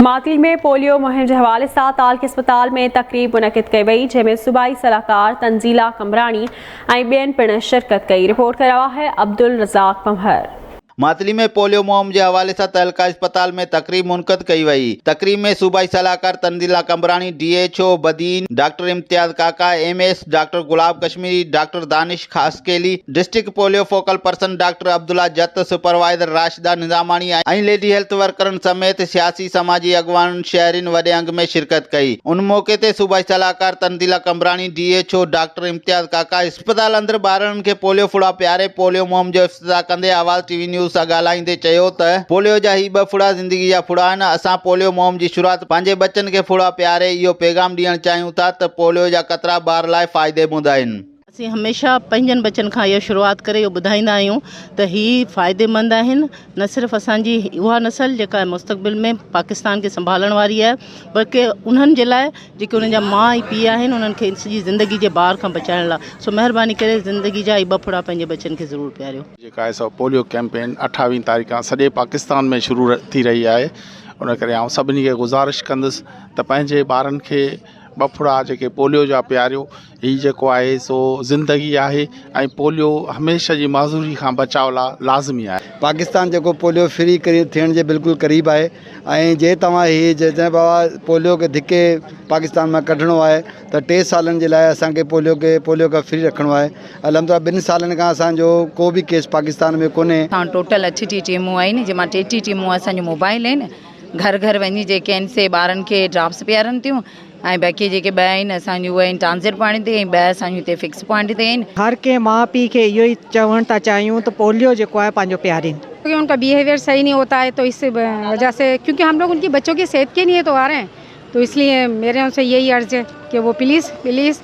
ماٿري ۾ پوليو مهم جي حوالي سان تعلقي اسپتال ۾ تقريب منعقد ڪئي وئي جنهن ۾ صوبائي صلاحڪار تنزيلا قمبراڻي ۽ ٻين پڻ شرڪت ڪئي رپورٽ ڪري رهيو آهي عبدالرزاق پنهور. ماٿري ۾ پوليو مهم جي حوالي سان تعلقي اسپتال ۾ تقريب منعقد ڪئي وئي تقريب ۾ صوبائي صلاحڪار Tanzeela Qambrani D H O Badin doctor Imtiaz Kaka M S doctor Gulab Kashmiri doctor Danish Khaskheli district polio focal person doctor Abdullah Jatt, supervisor Rashida Nizamani ۽ lady health ورڪرن سميت سياسي سماجي اڳواڻن شهرين وڏي انگ ۾ شرڪت ڪئي. ان موقعي تي صوبائي صلاحڪار Tanzeela Qambrani, D H O doctor Imtiaz Kaka, اسپتال اندر ٻارڙن کي پوليو ڦڙا پياري پوليو مهم جو افتتاح ڪندي آواز ٽي وي نيوز سان ڳالهائيندي چيو ته پوليو جا هي ٻه ڦڙا زندگي جا ڦڙا آهن، اسان پوليو مهم جي شروعات پنهنجي ٻچن کي ڦڙا پياري اهو پيغام ڏيڻ چاهيون ٿا ته پوليو جا قطرا ٻار لاء فائديمند آهن. اسين هميشه پنهنجن ٻچن کان اهو شروعات ڪري اهو ٻڌائيندا آهيون ته هي فائديمند آهن نه صرف اسان جي اها نسل جيڪا مستقبل ۾ پاڪستان کي سنڀالڻ واري آهي بلڪه انهن جي لاء جيڪي انهن جا ماء ۽ پيء آهن انهن کي سڄي زندگي جي بار کان بچائڻ لاء سو مهرباني ڪري زندگي جا هي ٻه ڦڙا پنهنجي ٻچن کي ضرور پياريو. جيڪا آهي سو پوليو ڪيمپين اٺاويهه تاريخ کان سڄي پاڪستان ۾ شروع ٿي رهي آهي ان ڪري آئون سڀني کي گذارش ڪندس ته پنهنجي ٻارن کي ٻه ڦڙا جيڪي پوليو جا پياريو هي جيڪو آهي سو زندگي آهي ۽ پوليو هميشه جي معذوري کان بچاء لاء لازمي آهي. پاڪستان جيڪو پوليو فري ٿيڻ جي بلڪل قريب آهي ۽ جي توهان هي جنهن بابا پوليو کي ڌڪي پاڪستان مان ڪڍڻو آهي ته ٽي سالن جي لاء اسان کي پوليو کي پوليو کان فري رکڻو آهي الحمدلله ٻن سالن کان اسان جو ڪو به ڪيس پاڪستان ۾ ڪونهي. اسان وٽ ٽوٽل اٺ ٽيهه ٽيمون آهن جنهن مان ٽيٽيهه ٽيمون اسان جون موبائل آهن گهر گهر وڃي جيڪي آهن سي ٻارن کي ڊراپس پيارن ٿيون ۽ باقي جيڪي ٻه آهن اسان جون اهي آهن ٽرانزٽ پوائنٽ تي ۽ ٻه اسان جون هتي فڪس پوائنٽ تي آهن. هر ڪنهن ماء پيء کي اهو ئي چوڻ ٿا چاهيون ته پوليو جيڪو آهي پنهنجو پيارين. ڪيونڪه ان ڪا بيهيويئر صحيح نهي هوتا هي تو اس وجه سي ڪيونڪه هم لوگ ان ڪي بچو ڪي صحت ڪي ليئي تو آ رهي هين تو اس ليئي ميري ان سي يهي عرض هي ڪي وو پليز پليز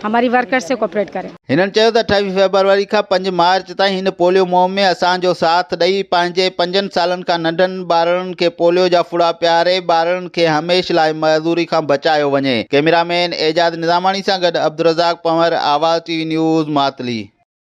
ھماري ورڪرز سي ڪوپريٽ ڪري. ھنن چيو ته اٺاويھ فيبروري کان پنج مارچ تائين ھن پوليو مھم ۾ اسان جو ساٿ ڏئي پنھنجي پنجن سالن کان ننڍن ٻارڙن کي پوليو جا ڦڙا پياري ٻارڙن کي ھميشھ لاء معذوري کان بچايو وڃي ڪئميرا مين اعجاز نظاماڻي سان گڏ Abdul Razzaq Panhwar Awaz T V news Matli.